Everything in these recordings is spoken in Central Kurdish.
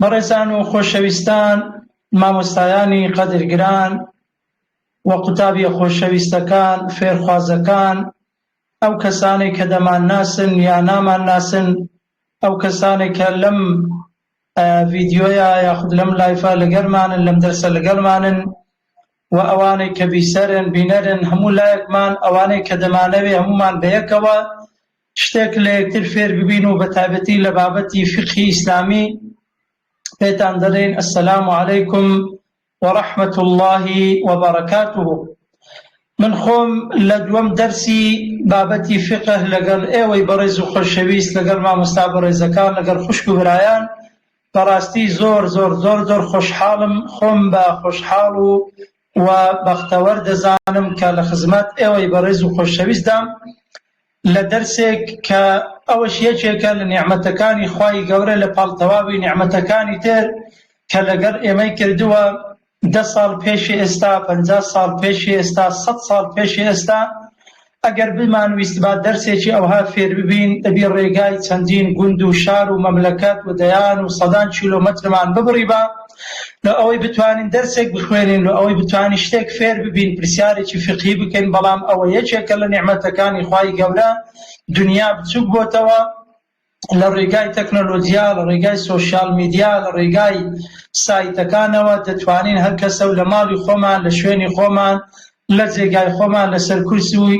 بەڕێزان و خۆشەویستان مامۆستایانی قەدرگران و قوتابیە خۆشەویستەکان فێرخوازەکان ئەو کەسانێک کە دەمان ناسن یا نامان ناسن ئەو کەسانێک کە لەم ڤیددیوۆیە یاخود لەم لایفە لەگەرمانن لەم دەرسە لەگەرمانن و ئەوانەی کە بیسەرن بینەرن هەموو لایەکمان ئەوانەی کە دەمانەوێ هەمومان بەیەکەوە شتێک لە یەکتر فێر ببین و بەتایبەتی لە بابەتی فیقهی ئیسلامی پێتان دەڵێین السلام علیکم ورحمة الله وبركاته من خۆم لە دووەم دەرسی بابەتی فقه لەگەڵ ئێوەی بەڕێز و خۆشەویست لەگەڵ مامۆستا بەڕێزەکان لەگەڵ خوشک و برایان بەڕاستی زۆر زۆر زۆر زۆر خۆشحاڵم خۆم بە خۆشحاڵ و و بەختەوەر دەزانم کە لە خزمەت ئێوەی بەڕێز و خۆشەویستدام لە دەرسێک کە ئەوەش یەکێکە لە نیعمەتەکانی خوای گەورە لە پاڵ تەواوی نیعمەتەکانی تر کە لەگەڵ ئێمەی کردووە دە ساڵ پێشی ئێستا پەنجا ساڵ پێشی ئێستا سەد ساڵ پێشی ئێستا ئەگەر بمانویستبا دەرسێکی ئەوها فێرببین، دەبی ڕێگای چەندین گوند و شار و مەملەکەت و دەیان و سەدان کیلۆمەترمان ببڕیبا لۆ ئەوەی بتوانین دەرسێک بخوێنین، لۆ ئەوەی بتوانین شتێک فێرببین، پرسیارێکی فیقهی بکەین، بەڵام ئەوە یەکێکە لە نیعمەتەکانی خوای گەورە، دنیا بچوک بۆتەوە، لە ڕێگای تەکنۆلۆجیا، لە ڕێگای سۆشیال میدیا، لە ڕێگای سایتەکانەوە دەتوانین هەر کەسە و لە ماڵی خۆمان، لە شوێنی خۆمان، لە جێگای خۆمان، لەسەر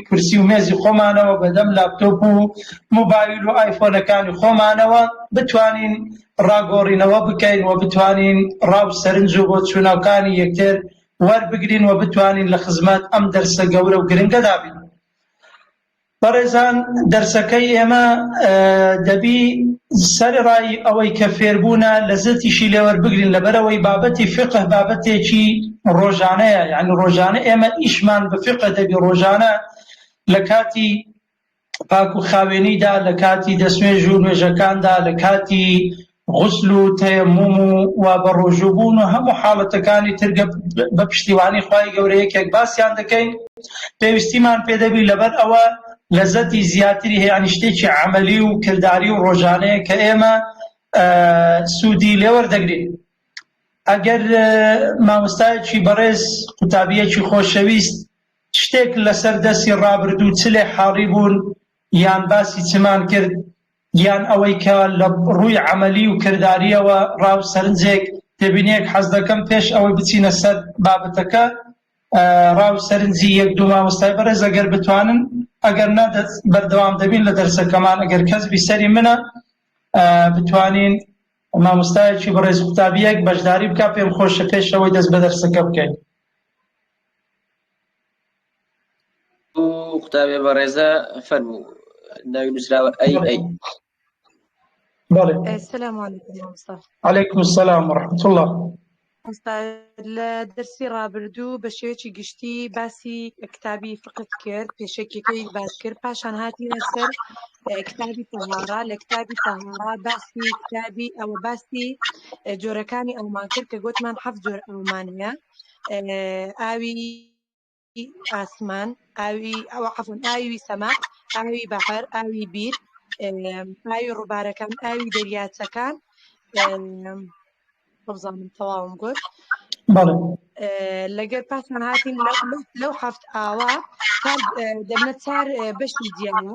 کورسی و مێزی خۆمانەوە، بەدەم لاپتۆپ و موبایل و ئایفۆنەکانی خۆمانەوە بتوانین ڕاگۆڕینەوە بکەین و بتوانین ڕا و سەرنج و بۆچوونەکانی یەکتر وەربگرین و بتوانین لە خزمەت ئەم دەرسە گەورە و گرنگەدا بین. بەڕێزان دەرسەکەی ئێمە دەبی سەرڕای ئەوەی کە فێربوونە لە زەتیشی لێوەر بگرین لەبەرەوەی بابەتی فقه بابەتێکی ڕۆژانەیە یعنی ڕۆژانە ئێمە ئیشمان بە فقه دەبی ڕۆژانە لە کاتی پاک و خاوێنیدا لە کاتی دەستێژ و نوێژەکاندا لە کاتی غوسل و تەیەموم و وا بە ڕۆژوو بوون و هەموو حاڵەتەکانی تر گە بە پشتیوانی خوای گەورە یەکێک باسیان دەکەین پێویستیمان پێ دەبی لەبەر ئەوە لەزەتی زیاتری هەیە یانی شتێکی عەمەلی و کرداری و ڕۆژانەیە کە ئێمە سوودی لێوەردەگرین ئەگەر مامۆستایەکی بەڕێز قوتابیەکی خۆشەویست شتێک لەسەر دەستی ڕابردوو چ لێ حاڵی بوون یان باسی چمان کرد یان ئەوەی کە لە ڕووی عەمەلی و کردارییەوە ڕا و سەرنجێک تێبینییەک حەز دەکەم پێش ئەوەی بچینە سەر بابەتەکە ڕا و سەرنجی یەک دوو مامۆستای بەڕێز ئەگەر بتوانن ئەگەر نە بەردەوام دەبین لە دەرسەکەمان ئەگەر کەس بیسەری منە بتوانین مامۆستایەکی بەڕێز قوتابیەک بەشداری بکە پێم خۆشە پێشەوەی دەست بە دەرسەکە بکەین ئەو قوتابێ بەڕێزە فەرموو ناوی نووسراوە ئەی ئەی عليكم السلام ورحمة الله لە دەرسی ڕابردوو بە شێوەیەکی گشتی باسی کتابی فقت کرد پێشەکیەکەی باس کرد پاشان هاتی لەسەر کتابی تەهارا لە کتابی تەهارا باسی کتابی ئەوە باسی جۆرەکانی ئەومان کرد کە گوتمان حەف جۆر ئەومانە ئاوی ئاسمان ئاوی ئەو عفون ئاوی سەما ئاوی بەهر ئاوی بیر ئاوی ڕووبارەکان ئاوی دەریاچەکان بزانم تەواوم گوت لەگەر پاسمان هاتین لەو هەفت ئاوا دەبنە چار بەشی جیانە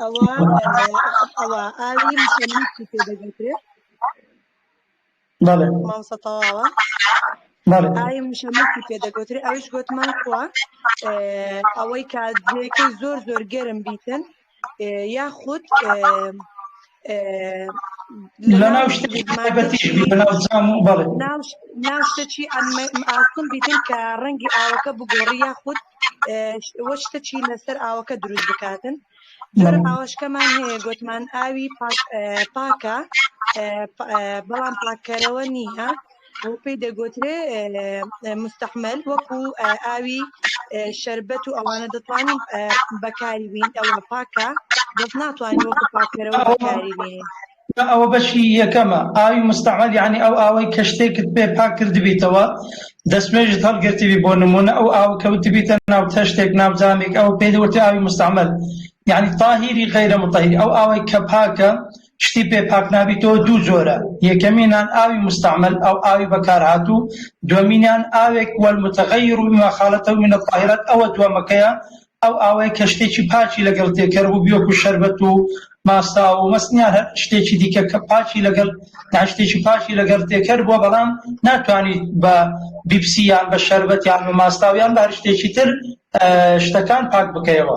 ئەوە ئەوە ئاوی مشەمەکی پێ دەگوترێت بەڵێ مامۆستا تەواوە بەڵێ ئاوی مشەمەکی پێ دەگوترێت ئەویش گوتمان کووە ئەوەی کاتێکەی زۆر زۆر گەرم بیتن یاخود لەناو شتەچی ئاسم بیتن کە ڕەنگی ئاوەکە بگۆڕی یاخود وەشتەچی لەسەر ئاوەکە دروست بکاتن جۆرە ئاوەشکەمان هەیە گوتمان ئاوی پاکە بەڵام پاکەرەوە نییە ئەو پێی دەگوترێ مستحمل وەکو ئاوی شربەت و ئەوانە دەتوانین بەکاری بین ئەو پاکە دەست ناتوانین وەکو پاکەرەوە بەکاری بین ئەوە بەشی یەکەمە ئاوی مستعمل یعنی ئەو ئاوەی کە شتێکت پێ پاک کردبیتەوە دەستمێژت هەڵگرتیبی بۆ نمونە ئەو ئاو کەوتبیتە ناو تەشتێک ناو جامێک ئەو پێدەوتی ئاوی مستعمل یعنی تاهیری غیرە متهیر ئەو ئاوەی کە پاکە شتی پێ پاک نابیتەوە دوو جۆرە، یەکەمینان ئاوی مستعمل ئەو ئاوی بەکارهاتوو، دوەمینیان ئاوێک والمتغیر بما خالطه من الطاهرات ئەوە دوەمەکەیە ئەو ئاوەی کە شتێکی پاکی لەگەڵ تێکەر بووبی وەکو شەربەت و ماستاو و مەستن یان هەر شتێکی دیکە کە پاکی لەگەڵ یان شتێکی پاکی لەگەڵ تێکەر بووە بەڵام ناتوانیت بە بیپسی یان بە شەربەت یان بە ماستاو یان بە هەر شتێکی تر شتەکان پاک بکەیەوە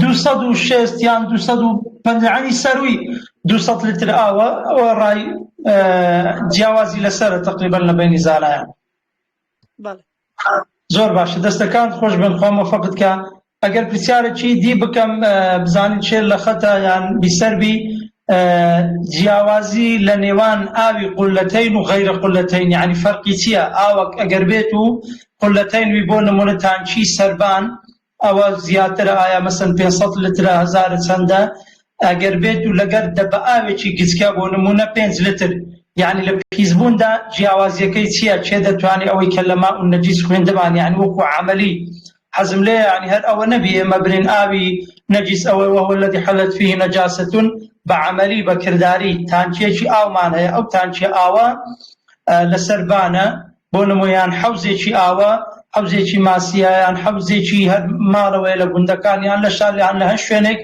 دوو سەد و شێست یان دوو سەد و پەنجا یانی سەرووی دوو سەد لتر ئاوە ئەوە ڕای جیاوازی لەسەرە تقریبا لە بینی زانایان بەڵێ زۆر باشە دەستەکان خۆش بن خۆ مەفقت کە ئەگەر پرسیارێکی دی بکەم بزانین شێر لە خەتە یان بیسەربی جیاوازی لە نێوان ئاوی قولەتین و غیرە قولەتین یعنی فەرقی چییە ئاوەک ئەگەر بێت و قولەتین وی بۆ نمونە تانچی سربان ئەوە زیاترە ئایا مەسەن پێنج سەد لترە هەزارە چەندە ئەگەر بێت و لەگەر دە بە ئاوێکی گچکە بۆ نمونە پێنج لتر یعنی لە پیسبووندا جیاوازیەکەی چییە چێ دەتوانێ ئەوەی کە لە ماء النجیس خوێندمان یعنی وەکو عملی حەزم لێ یعنی هەر ئەوە نەبی ئێمە برین ئاوی نەجیس ئەوە وهو الذی حلت فیه نجاستون بە عملی بە کرداری تانکیەکی ئاومان هەیە ئەو تانکیە ئاوە لەسەر بانە بۆ نموو یان حەوزێکی ئاوە، حەوزێکی ماسییە، یان حەوزێکی هەر ماڵەوەیە لە گوندەکان یان لە شار یان لە هەر شوێنێک،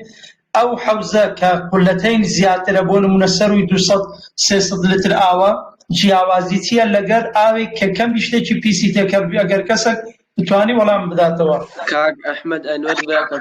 ئەو حەوزە کە قولەتەین زیاترە، بۆ نموونە سەرووی دوو سەد سێ سەد لتر ئاوە، جیاوازی چییە لەگەر ئاوێک کە کەمی شتێکی پیسی تێ کە ئەگەر کەسەک بتوانی وەڵامم بداتەوە. کاک ئەحمەد ئەنوەر براکەم.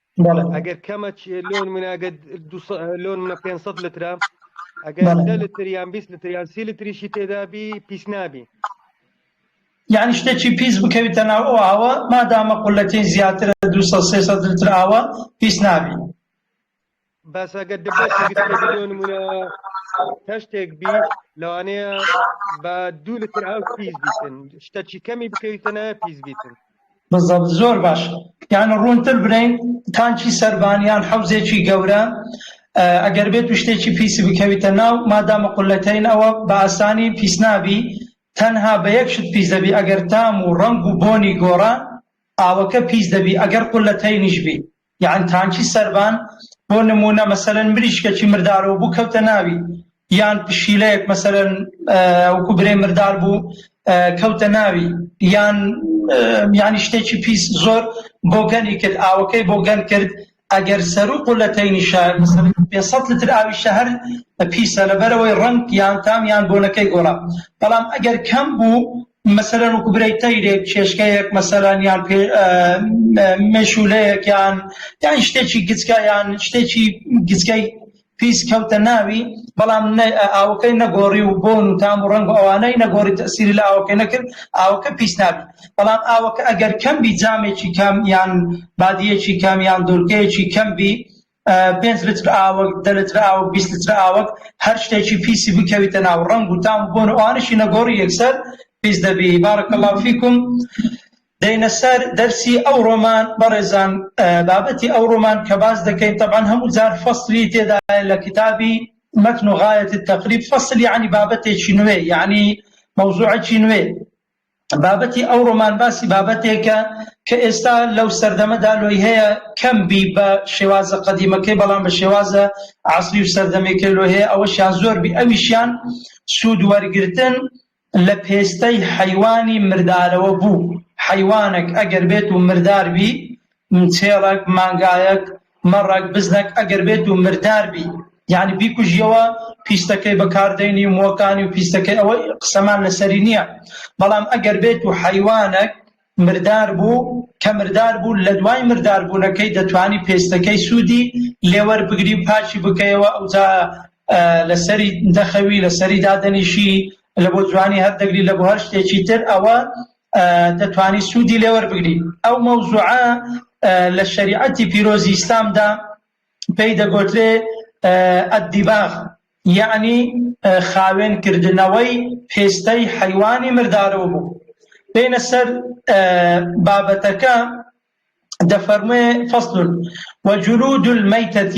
ئەگەر کەمە لۆن مناگە لۆن منە 500 لترە ئەگەر دە لتریان 20 لتریان سی لتریشی تێدابی پیس نابی یعنی شتێکی پیس بکەویتە ناو ئەو ئاوە مادامە قولەکەی زیاترە 200 لتر ئاوە پیس نابی بەس ئەگەر دبەش گرتە بۆ نمونە تەشتێک بی لەوانەیە بە دوو لتر ئەو پیس بیتن شتەچی کەمی بکەویتەنە پیس بیتن بەزەب زۆر باش یان ڕوونتر برین تانچی سەربانیان حەوزێکی گەورە ئەگەر بێت و شتێکی پیسی بکەویتە ناو مادامە قولەتەین ئەوە بە ئاسانی پیس نابی تەنها بە یەک شت پیس دەبی ئەگەر تام و ڕنگ و بۆنی گۆڕان ئاوەکە پیس دەبی ئەگەر قولەتەینیش بی یان تانکی سەربان بۆ نموونە مەسەرەن مریشکەکی مردارەوە بوو کەوتە ناوی یان پشیلەیەک مەسەرەن وەکو برێ مردار بوو کەوتە ناوی یان یانی شتێکی پیس زۆر بۆ گەنی کرد ئاوەکەی بۆ گەن کرد ئەگەر سەرروق و لە تەینی شار پێسە لتر ئاوی شەهر پیسە لەبەرەوەی ڕنگ یان تام یان بۆنەکەی گۆڕا بەڵام ئەگەر کەم بوو مەسەلەن وەکو برای تەیرێک کێشکەیەک مەسەلەن یان مێشولەیەک یان یان شتێکی گچکە یان شتێکی گچکەی پیس کەوتە ناوی بەڵام ئاوەکەی نەگۆڕی و بۆن و تام و ڕنگ ئەوانەی نەگۆڕی تەسیری لە ئاوەکەی نەکرد ئاوەکە پیس نابی بەڵام ئاوەکە ئەگەر کەم بی جامێکی کەم یان بادیەکی کەم یان دورکەیەکی کەم بی پێنج لتر ئاوەک، دە لتر ئاوەک، بیست لتر ئاوەک، هەر شتێکی پیسی بکەویتە ناو، ڕەنگ و تام و بۆن و ئەوانەشی نەگۆڕی یەکسەر پیس دەبی. بارک اللە فیکم. دێینە سەر دەرسی ئەوڕۆمان، بەڕێزان بابەتی ئەوڕۆمان کە باس دەکەین تەبعەن هەموو جار فەسلی تێدایە لە کتابی متن غایەت التقریب، فەسل یەعنی بابەتێکی نوێ یەعنی مەوزوعەکی نوێ، بابەتی ئەو ڕۆمان باسی بابەتێکە کە ئێستا لەو سەردەمەدا لۆی هەیە کەم بی بە شێوازە قەدیمەکەی بەڵام بە شێوازە عسری و سەردەمێکە لۆ هەیە ئەوەشیان زۆر بی ئەویشیان سوود وەرگتن لە پێستەی حیوانی مردارەوە بوو حیوانێک ئەگەر بێت و مردار بی چێڕەک مانگایەک مەڕەک بزنەک ئەگەر بێت و مردار بی یانی بیکوژیەوە پیستەکەی بەکاردەینی و مۆکانی و پیستەکەی ئەوە قسەمان لەسەری نییە بەڵام ئەگەر بێت و حەیوانەک مردار بوو کە مردار بوو لە دوای مرداربوونەکەی دەتوانی پێستەکەی سوودی لێوەر بگری و پاچی بکەیەوە ئەوجا لەسەری دەخەوی لەسەری دادەنیشی لە بۆ جوانی هەر دەگری لە بۆ هەر شتێکی تر ئەوە دەتوانی سوودی لێ وەربگری ئەو مەوزوعە لە شریعەتی پیرۆزی ئیسلامدا پێی دەگۆترێ ئەدیباغ یعنی خاوێن کردنەوەی پێستەی حیوانی مردارەوە بوو بینە سەر بابەتەکە دەفەرمێ فەصل وجلود الميتة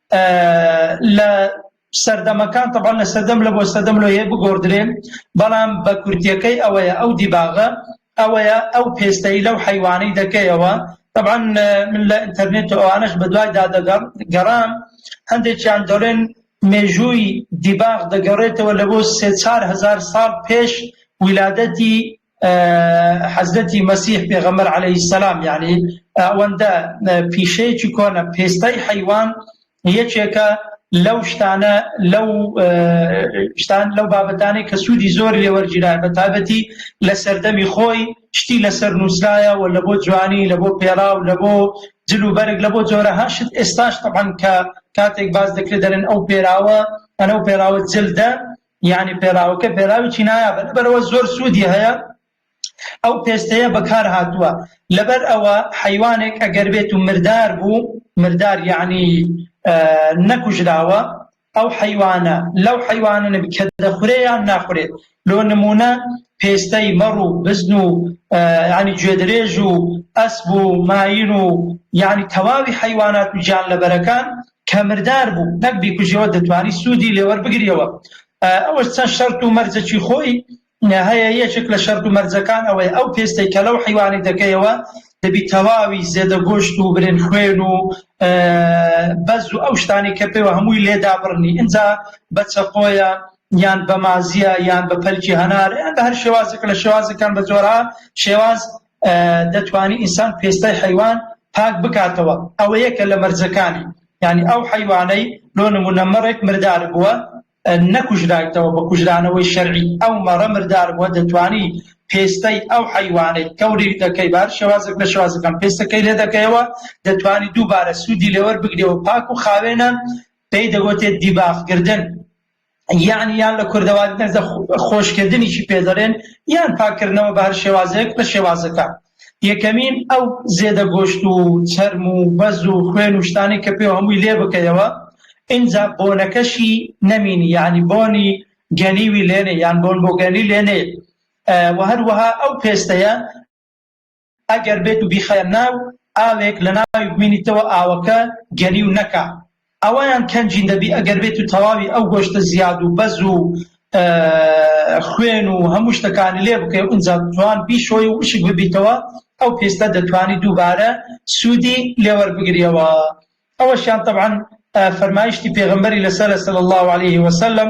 لە سەردەمەکان تەبان لە سەردەم لە بۆ سەدەم لۆ هەیە بگۆڕدرێن بەڵام بە کورتیەکەی ئەوەیە ئەو دیباغە ئەوەیە ئەو پێستایی لەو حیوانەی دەکەیەوە طبعا من لە ئینتەرنێت و ئەوانش بە دوای دادەگەڕ گەڕام هەندێکیان دەڵێن مێژووی دیباغ دەگەڕێتەوە لە بۆ سێ چار هزار ساڵ پێش ویلادەتی حەزرەتی مەسیح پێغەمبەر عەلەیهی سەلام یەعنی ئەوەندە پیشەیەکی کۆنە پێستای حەیوان یەکێکە لەو شتانە لەو شتان لەو بابەتانی کە سوودی زۆر لێوەرگیرا بە تابەتی لە سەردەمی خۆی شتی لەسەر نووسرایە و لە بۆ جوانی لە بۆ پێرا و لە بۆ جل و بەرگ لە بۆ جۆرە هەشت ئێستاش تەبان کە کاتێک باز دەکرێت دەرن ئەو پێراوە ئەنە و پێراوە جلدە یانی پێلاوەکە پێلاویی نایابە لەبەرئەوە زۆر سوودی هەیە ئەو پێستەیە بەکار هاتووە لەبەر ئەوە حەیوانێک ئەگەر بێت و مردار بوو مردار یعنی نەکوژراوە ئەو حەیوانە لەو حەیوانە کە دەخورێیان ناخورێت لۆ نمونە پێستەی مەڕ و بزن و ینی گوێدرێژ و ئەسب و ماین و یعنی تەواوی حەیوانات و گیان لەبەرەکان کە مردار بوو نەک بیکوژیەوە دەتوانی سوودی لێوەربگریەوە ئەوەش چەند شەرت و مەرجەکی خۆی هەیە یەکێک لە شەرت و مەرجەکان ئەوەی ئەو پێستەی کە لەو حیوانی دەکەیەوە دەبی تەواوی زێدە گۆشت و برێن خوێن و بەز و ئەو شتانی کە پێوە هەمووی لێدا بڕنی ئینجا بە چەقۆیە یان بە مازیە یان بە پەلکی هەنار یان بە هەر شێوازێک لە شێوازەکان بە جۆرا شێواز دەتوانی ئینسان پێستای حەیوان پاک بکاتەوە ئەوەیە کە لە مەرجەکانی یانی ئەو حەیوانەی لۆ نمونە مەڕێک مردار بووە نەکوژرایتەوە بە کوژرانەوەی شەرعی ئەو مەڕە مردار بووە دەتوانی پێستای ئەو حەیوانەی کەوریک دەکەی بار شێوازێک لە شێوازەکان پێستەکەی لێ دەکەیەوە دەتوانی دووبارە سوودی لێوەر بگرێەوە پاک و خاوێنە پێی دەگوتێت دیباخکردن یان یان لە کوردەواری نەزە خۆشکردنیشی پێدەرێن یان پاکردنەوە بە هەر شێوازێک لە شێوازەکە یەکەمین ئەو زێدە گۆشت و چەرم و بەز و خوێن و شتانی کە پێ هەمووی لێ بکەیەوە ئینجا بۆنەکەشی نەمینی یعنی بۆنی گەنیوی لێنێ یان بۆن بۆ گەنی لێنێ و هەروەها ئەو پێستەیە ئەگەر بێت و بیخەیە ناو ئاوێک لە ناوی بمینیتەوە ئاوەکە گەنیو نەکا ئەوەیان کەنجین دەبی ئەگەر بێت و تەواوی ئەو گۆشتە زیاد و بەز و خوێن و هەموو شتەکانی لێ بکەی و ئینجا جوان بیشۆی و وشک ببیتەوە ئەو پێستە دەتوانی دووبارە سوودی لێوەر بگریەوە ئەوەشیان طبعا فەرمایشتی پێغمبەری لەسەر صلی الله عليه وسلم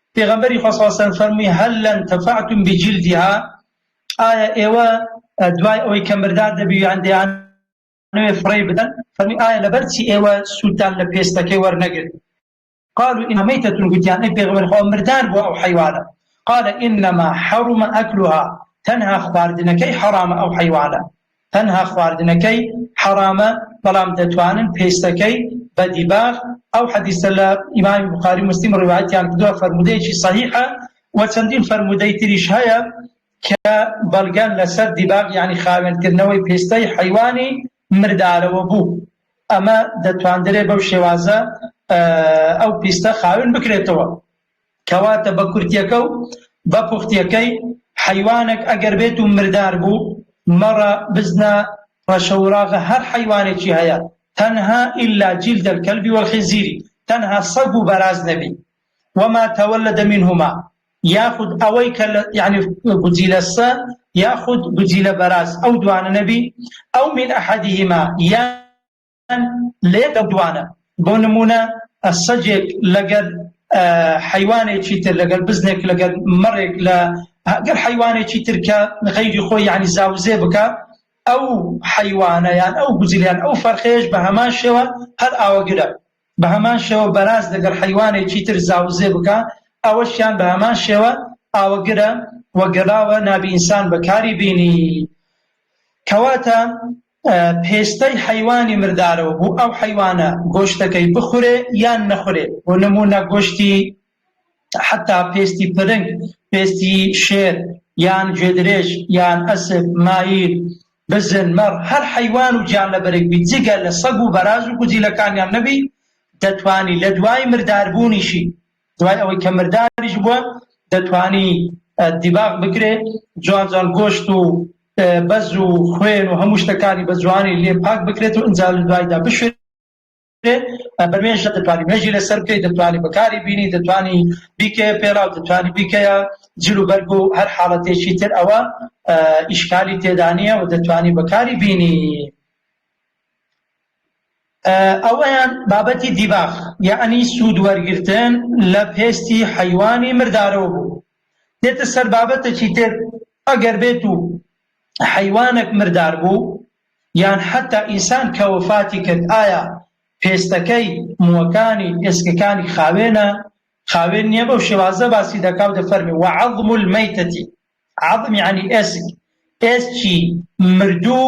پێغەمبەری خوا صلی اللە علیە وسلم فەرمووی هل انتفعتم بجلدها ئایا ئێوە دوای ئەوەی کە مردار دەبیویان دەیانەوێ فڕێی بدەن فەرمی ئایا لەبەرچی ئێوە سوودتان لە پێستەکەی وەرنەگرت قالوا إن ميتة قتيان أي بيغمر خو مردار بو أو حيوانا قال إنما حرم أكلها تنها خواردنكي حرام أو حيوانا تەنها خواردنەکەی حەڕامە بەڵام دەتوانن پێستەکەی بە دیباغ ئەو حەدیسە لە ئیمامی بخاری مسلیم ڕیوایەتیان کردووە فەرمودەیەکی صحیحە و چەندین فەرمودەی تریش هەیە کە بەڵگەن لەسەر دیباغ یعنی خاوێنکردنەوەی پێستەی حیوانی مردارەوە بوو ئەمە دەتواندرێ بەو شێوازە ئەو پیستە خاوێن بکرێتەوە کەواتە بە کورتیەکە و بە پوختیەکەی، حەیوانەک ئەگەر بێت و مردار بوو، مەڕە، بزنە، ڕەشە وراغە هەر حەیوانێکی هەیە تەنها الا جلد الکلب والخنزیر تەنها سەگ و بەراز نەبی وما تولد منهما یاخود ئەوەی کە یعنی گوجیلە سە یاخود گوجیلە بەراز ئەو دوانە نەبی ئەو من ئەحدهما یا لەیەک ئەو دوانە بۆ نمونە سەجێک لەگەر حیوانێکی تر لەگەر بزنێک لەگەر مەڕێک لە گەر حیوانێکی ترکە غەیری خۆی یعنی زاوزێ بکە ئەو حیوانەیان ئەو گوزیان ئەو فەرخێش بە هەمان شێوە هەر ئاوەگرە بە هەمان شێوە بەراز لەگەر حیوانێکی تر زاوزێ بکە ئەوەشیان بە هەمان شێوە ئاوەگرە وەگەڵاوە نابی ئینسان بەکاری بینی کەواتە پێستەی حەیوانی مردارەوە بۆ ئەو حەیوانە گۆشتەکەی بخورێ یان نەخورێ بۆ نموونە گۆشتی حتا پێستی پرنگ پێستی شێر یان گوێدرێژ یان ئەسپ مایر بزن مەڕ هەر حەیوان و گیانلەبەرێک بی جگە لە سەگ و بەراز و گوجیلەکانیان نەبی دەتوانی لە دوای مرداربوونیشی دوای ئەوەی کە مرداریش بووە دەتوانی دیباغ بکرێ جوان جوان گۆشت و بەز و خوێن و هەموو شتەکانی بە جوانی لێ پاک بکرێت و ئەنجا لە دوایدا بشێت بەمێژە دەتوانانی مێژی لەسەر بکەیت دەتوانی بەکاری بینی دەتوانی بیکە پێراو دەتوانی بیکەیە جل و بەرگ و هەر حاڵەتێکی تر ئەوە ئیشکالی تێدانە و دەتوانی بەکاری بینی ئەوەیان بابەتی دیباخ یەعنی سوود وەرگرتن لە پێستی حەیوانی مردارەوە بوو دێتە سەر بابەتەکی تر ئەگەر بێت و حەیوانێک مردار بوو یان حتا ئینسان کە وەفاتی کرد ئایا پێستەکەی مووەکانی ئێسکەکانی خاوێنە خاوێن نییە بەو شێوازە باسی دەکا و دەفەرمی وعەظم المەیتەتی عەظم یعنی ئێسک ئێسکی مردوو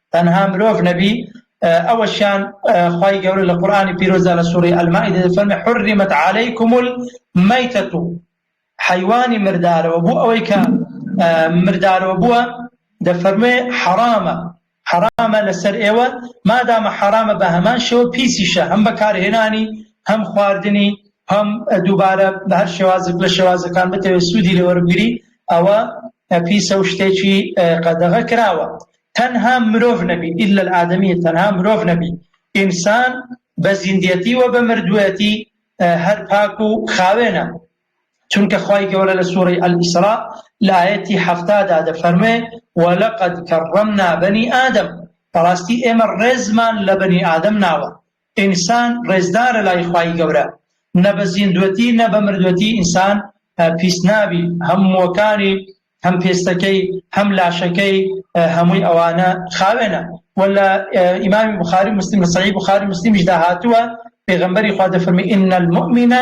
تەنها مرۆڤ نەبی ئەوەشیان خوای گەورە لە قورآانی پیرۆزدا لە سوڕی ئەلمائیدە دەفەرمێ حرمت علیکم المیتەتو حەیوانی مردارەوە بۆ ئەوەی کە مردارەوە بووە دەفەرمێ حەرامە حەرامە لەسەر ئێوە مادامە حەرامە بە هەمان شێوە پیسیشە هەم بەکارهێنانی هەم خواردنی هەم دووبارە بە هەر شێوازک لە شێوازەکان بتەوێت سوودی لەوەربگری ئەوە پیسە و شتێکی قەدەغە کراوە تەنها مرۆڤ نەبی، الا الادمی، تەنها مرۆڤ نەبی، ئینسان بە زیندیەتی و بە مردویەتی هەر پاک و خاوێنە، چونکە خوای گەورە لە سورەی الاسراء لە ئایەتی حەفتا دا دەفەرموێ ولقد کرمنا بنی آدم بەڕاستی ئێمە ڕێزمان لە بەنی ئادەم ناوە، ئینسان ڕێزدارە لای خوای گەورە، نە بە زیندوەتی نە بە مردوەتی ئینسان پیس نابی، هەمووەکانی هەم پێستەکەی هەم لاشەکەی هەمووی ئەوانە خاوێنە و لە ئیمامی بخاری مسلم لە سەعی بخاری مسلمیشدا هاتووە پێغمبەری خوا دەفەرمی ئین المؤمنە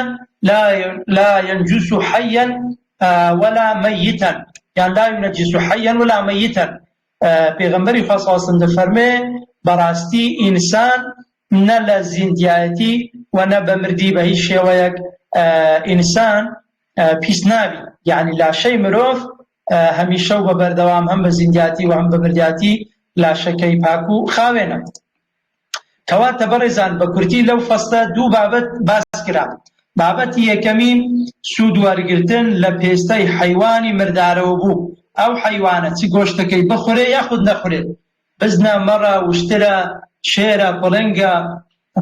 لا لا ينجس حيا ولا ميتا یان لا ينجس حيا ولا ميتا پێغمبەری خوا صلی الله علیه و دەفەرمێ بەڕاستی ئینسان نە لە زیندایەتی و نە بە مردی بە هیچ شێوەیەک ئینسان پیس نابی یعنی لاشەی مرۆڤ هەمیشە و بە بەردەوام هەم بە زیندیاتی و هەم بە مردیاتی لاشەکەی پاک و خاوێنە کەواتە بەڕێزان بە کورتی لەو فەستە دوو بابەت باس کرا بابەتی یەکەمی سوود وەرگتن لە پێستەی حیوانی مردارەوە بوو ئەو حیوانە چ گۆشتەکەی بخورێ یاخود نەخورێت بزنە، مەڕە، وشترە، شێرە، پڵنگە،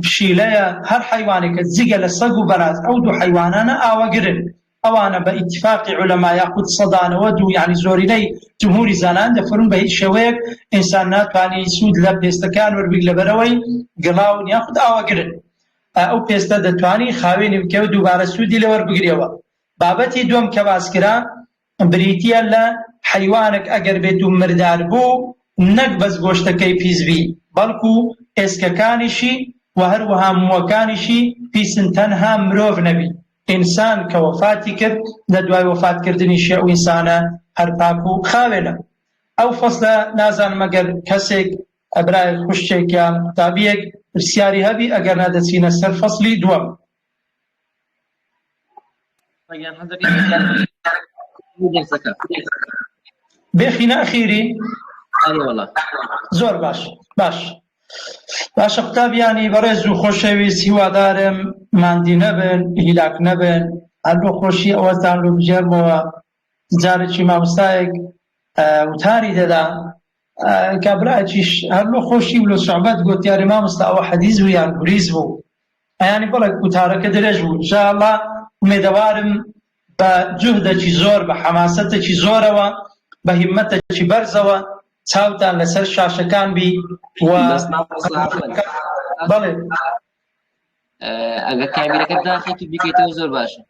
پشیلەیە، هەر حەیوانێکە جگە لە سەگ و بەراز، ئەو دوو حەیوانانە ئاوەگرن، ئەوانە بە ئیتیفاقی عولەما یاخود سەدا نەوەد و یەعنی زۆرینەی جمهوری زانایان دەفەرموون بە هیچ شێوەیەک ئینسان ناتوانی سوود لە پێستەکەیان وەربگرێت لەبەرئەوەی گڵاون یاخود ئاوەگرن ئەو پێستە دەتوانی خاوێنی بکەوێت دووبارە سوودی لێ وەربگرێەوە بابەتی دووەم کە باسکرا بریتیە لە حەیوانەک ئەگەر بێت و مردار بوو نەک بەس گۆشتەکەی پیس بی بەڵکو ئێسکەکانیشی و هەروەها موەکانیشی پیسن تەنها مرۆڤ نەبی ئینسان کە وەفاتی کرد لە دوای وەفات کردنیشی ئەو ئینسانە هەر پاک و خاوێنە ئەو فەسلە نازانم ئەگەر کەسێک برایەک خوشکێک یان قوتابیەک پرسیاری هەبی ئەگەر نا دەچینە سەر فەسلی دووەم. بەگیان حەزەکەی دەرسەکە بێخینە ئەخیری ئەوەڵە زۆر باش باش باشە قوتابیانی بەڕێز و خۆشەویست هیوادارم ماندی نەبن هیلاک نەبن هەر بۆ خۆشی ئەوەتان لە بژێرمەوە جارەکی ماموستایەک وتاری دەدا کابراکیش هەر لۆ خۆشی و لە سوعبەت گوتیاری ماموستا ئەوە حەدیز بوو یان گوریز بوو ئەیانی بەڵێ وتارەکە درێژ بوو انشاءاللە ئومێدەوارم بە جوهدەکی زۆر بە حەماسەتێکی زۆرەوە بە هیمەتێکی بەرزەوە چاوتان لەسەر شاشەکان بی و بەڵێ ئەگەر کابیرەکە داخێکی بکەیتەوە زۆر باشە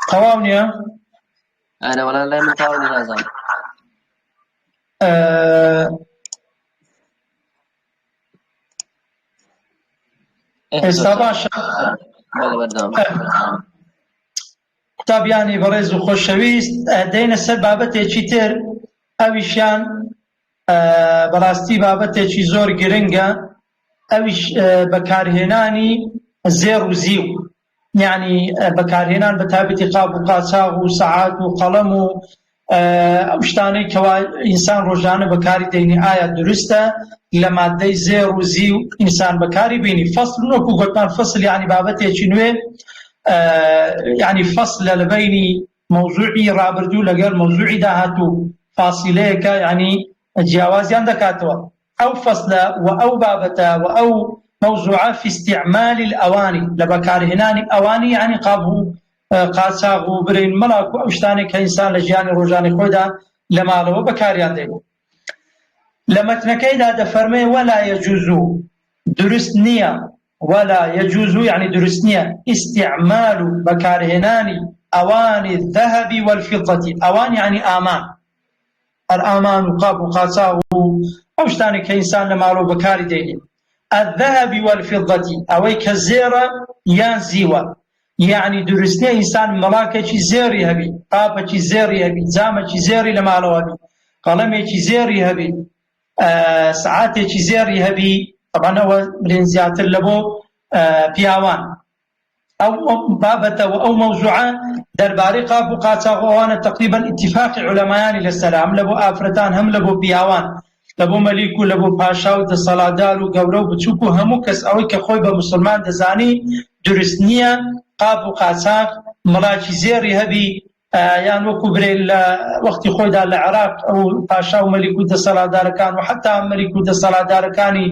تەواو نییە ئەرەوەڵان لای من تاوە نازان ئێستا باشە قوتابیانی بەڕێز و خۆشەویست دەینە سەر بابەتێکی تر ئەویشیان بەڕاستی بابەتێکی زۆر گرنگە ئەویش بەکارهێنانی زێڕ و زیو یعنی بەکارهێنان بە تابەتی قاب و قاچاغ و سەعات و قەڵەم و ئەو شتانەی کەوا ئینسان ڕۆژانە بەکاری دەینی ئایا دروستە لە مادەی زێ ڕوزی و ئینسان بەکاری بینی فەصل وەکو گوتمان فەصل یعنی بابەتێکی نوێ یعنی فەصل لە لەبینی مەوزوعی ڕابردوو لەگەل مەوزوعی داهاتوو فاسیلەیەکە یانی جیاوازیان دەکاتەوە ئەو فەسلە و ئەو بابەتە و ئەو مەوزوعە فی استعمال الاوانی لە بەکارهێنانی ئەوانی یانی قاب و قاچاغ و برین مەلاک و ئەو شتانەی کە ئینسان لە ژیانی ڕۆژانی خۆیدا لە ماڵەوە بەکاریان دێنێ لە مەتنەکەیدا دەفەرمێ ولا یجوز دروست نییە ولا یجوز یەعنی دروست نیە استعمال بەکارهێنانی اوانی الذهب والفضە اوان یەعنی ئامان هەر ئامان و قاپ و قاچاغ و ئەو شتانەی کە ئینسان لە ماڵەوە بەکاری دەینێت الذهب والفضة ئەوەی کە زێرە یان زیوە یعنی دروستنیە ئینسان مەڵاکەکی زێری هەبی قاپەکی زێری هەبی جامەکی زێری لە ماڵەوە بی قەڵەمێکی زێری هەبی سەعاتێکی زێڕی هەبی طبعا ئەوە برێن زیاتر لە بۆ پیاوان ئەو بابەتە و ئەو مەوزوعە دەربارەی قاپ و قاچاغۆوانە تقریبا اتفاقی علەمایانی لەسەر هەم لە بۆ ئافرەتان هەم لە بۆ پیاوان لە بۆ مەلیک و لە بۆ پاشا و دەسەڵادار و گەورە و بچووک و هەموو کەس ئەوەی کە خۆی بە مسلمان دەزانی دروست نییە قاپ و قاچاق مڵاکی زێڕی هەبی یان وەکو برێل لە وەختی خۆیدا لە عێراق ئەو پاشا و مەلیک و دەسەڵاتدارەکان و حتا مەلیک و دەسەڵاتدارەکانی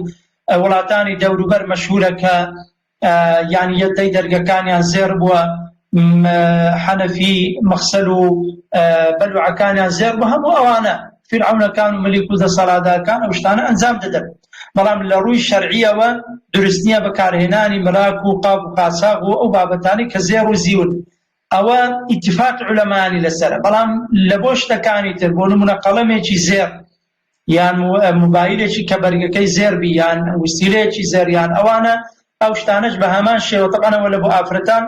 وڵاتانی دەوروبەر مەشهورە کە یان یەدەی دەرگەکانیان زێر بووە حەنەفی مەخسەل و بەلوعەکانیان زێر بوو هەموو ئەوانە فرعونەکان و مەلیک و دەسەڵاتدارەکان ئەو شتانە ئەنجام دەدەن بەڵام لە ڕووی شەرعیەوە درستنیە بەکارهێنانی مراک و قاب و قاساغ و ئەو بابەتانی کە زێر و زیون ئەوە ئیتیفاق عولەمانی لەسەرە بەڵام لە بۆ شتەکانی تر بۆ نمونە قەڵەمێکی زێڕ یان موبایلێکی کە بەرگەکەی زێربی یان وسیلەیەکی زێریان ئەوانە ئەو شتانەش بە هەمان شێوە تەبانەوە لە بۆ ئافرەتان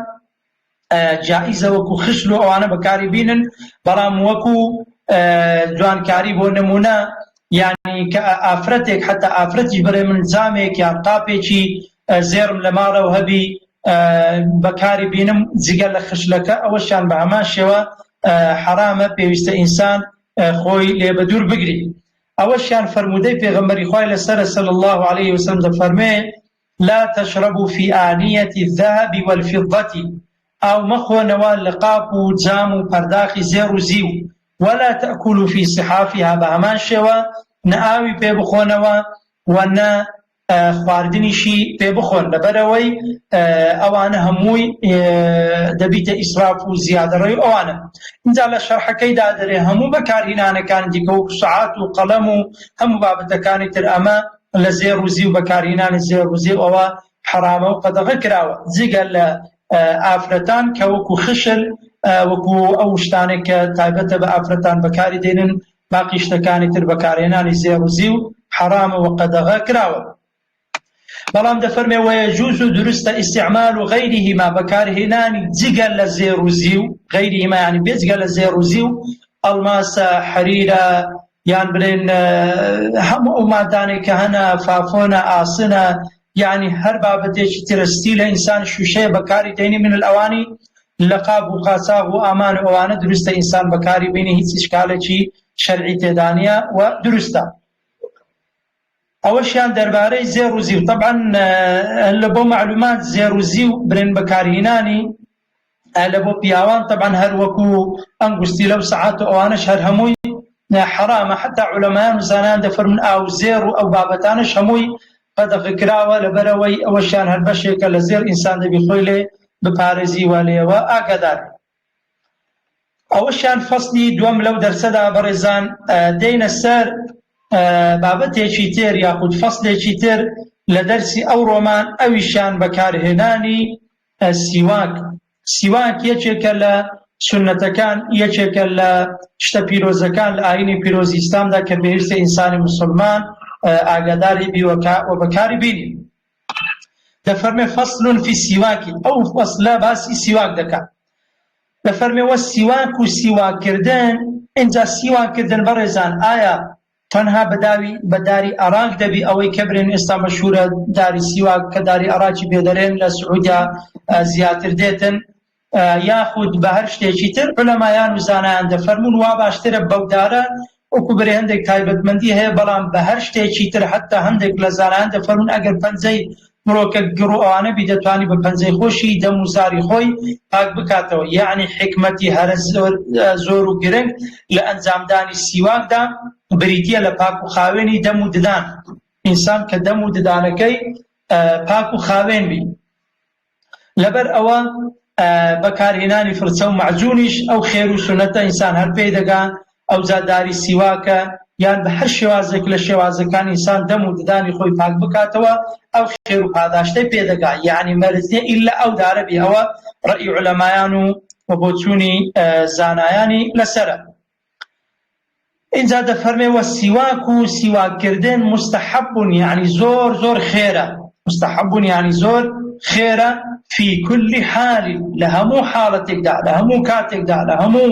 جائیزە وەکو خشل و ئەوانە بەکاری بینن بەڵام وەکو جوانکاری بۆ نمونە یعنی کە ئافرەتێک حتا ئافرەتی بەێ من جامێک یان قاپێکی زێڕم لە ماڵەوە هەبی بەکاری بینم جگە لە خشلەکە ئەوەشیان بە هەمان شێوە حەرامە پێویستە ئینسان خۆی لێ بە دوور بگری ئەوەشیان فەرموودەی پێغەمبەری خوای لەسەر سەل الله عليه وسلم دەفەرمێ لا تشربوا في آنية الذهب والفضة ئاو مەخۆنەوە لە قاپ و جام و پەرداخی زێر و زیو ولا تأكلوا في صحافها بە هەمان شێوە نە ئاوی پێ بخۆنەوە و نە خواردنیشی پێ بخۆن لەبەرئەوەی ئەوانە هەمووی دەبیتە ئیسراف و زیادەڕەوی ئەوانە اینجا لە شەرحەکەیدا دەرێ هەموو بەکارهینانەکان دیکە و سعات و قەڵەم و هەموو بابەتەکانی تر ئەمە لە زێر و زی و بەکارهینانی زێر و زی ئەوە حەرامە و قەدەغە کراوە جگە لە ئافرەتان کە وەکو خشل وەکو ئەو شتانێک کە تایبەتە بە ئافرەتان بەکاری دێنن باقی شتەکانی تر بەکارهێنانی زێڕ و زیو حەرامە وە قەدەغە کراوە بەڵام دەفەرمێ وەیەجوز و دروستە ئیسیعمال و غەیریهما بەکارهێنانی جگە لە زێر و زیو غەیریهما یعنی بێجگە لە زێر و زیو ئەڵماسە حەریرە یان بلێن هەموو ئەو مادانێک کە هەنە فافۆنە ئاسنە یعنی هەر بابەتێکی ترستی لە ئینسان شوشەیە بەکاری دەینی من ئەوانی لەقاپ و قاچاغ و ئامان و ئەوانە دروستە ئینسان بەکاری بینی هیچ ئیشکالێکی شەرعی تێدانە و دروستە ئەوەشیان دەربارەی زێر و زیو طبعا لە بۆ معلومات زێر و زیو برێن بەکارهینانی لە بۆ پیاوان طبعا هەر وەکو ئەنگستی لەو سعات و ئەوانەش هەر هەمووی حرامە حتا علەمایان و زانان دەفەرمون ئاو زێر و ئەو بابەتانش هەمووی قەدەغە کراوە لەبەرئەوەی ئەوەشیان هەر بەشێکە لە زێڕ ئینسان دەبی خۆی لێ بپارێزی وا لێیەوە ئاگاداربی. ئەوەشیان فەسلی دوەم لەو دەرسەدا بەڕێزان دێینە سەر بابەتێکی تر یاخود فەسلێکی تر لە دەرسی ئەوڕۆمان ئەویشیان بەکارهێنانی سیواک سیواک یەکێکە لە سنەتەکان یەکێکە لە شتە پیرۆزەکان لە ئاینی پیرۆزی ئیسلامدا کە پێویستە ئینسانی مسلمان ئاگاداری بیوەکە و بەکاری بینی دەفەرمێ فەصلون فی سیواکی ئەو فەصلە باسی سیواک دەکات دەفەرمێ وە سیواک و سیواکردن اینجا سیواکردن بەڕێزان ئایا تەنها بە داوی بە داری ئەراک دەبی ئەوەی کە برێن ئێستا مەشهورە داری سیواک کە داری ئەراکی بێ دەرێن لە سعودیا زیاتر دێتن یاخود بە هەر شتێکی تر علەمایان و زانایان دەفەرمون وا باشترە بەودارە وەکو برێ هەندێک تایبەتمەندی هەیە بەڵام بە هەر شتێکی تر حتا هەندێک لە زانایان دەفەرمون ئەگەر پەنجەی مرۆکە گڕ و ئەوانە بی دەتوانی بە پەنجەی خۆشی دەم و زاری خۆی پاک بکاتەوە یەعنی حیکمەتی هەرە زۆر و گرنگ لە ئەنجامدانی سیواکدا بریتیە لە پاک و خاوێنی دەم و ددان ئینسان کە دەم و ددانەکەی پاک و خاوێن بی لەبەر ئەوە بەکارهێنانی فرچە و مەعجونیش ئەو خێر و سونەتە ئینسان هەر پێی دەگا ئەوجا داری سیواکە یان بە هەر شێوازێک لە شێوازەکان ئینسان دەم و ددانی خۆی پاک بکاتەوە ئەو خێر و پاداشتەی پێدەگا یعنی مەرج نیە ئیلا ئەو دارە بێ ئەوە ڕەئی علەمایان و و بۆچوونی زانایانی لەسرە اینجا دەفەرمێ وە سیواک و سیواکردن مستحبون یعنی زۆر زۆر خێرە مستحبون یعنی زۆر خێرە فی کولی حالی لە هەموو حاڵەتێکدا لە هەموو کاتێکدا لە هەموو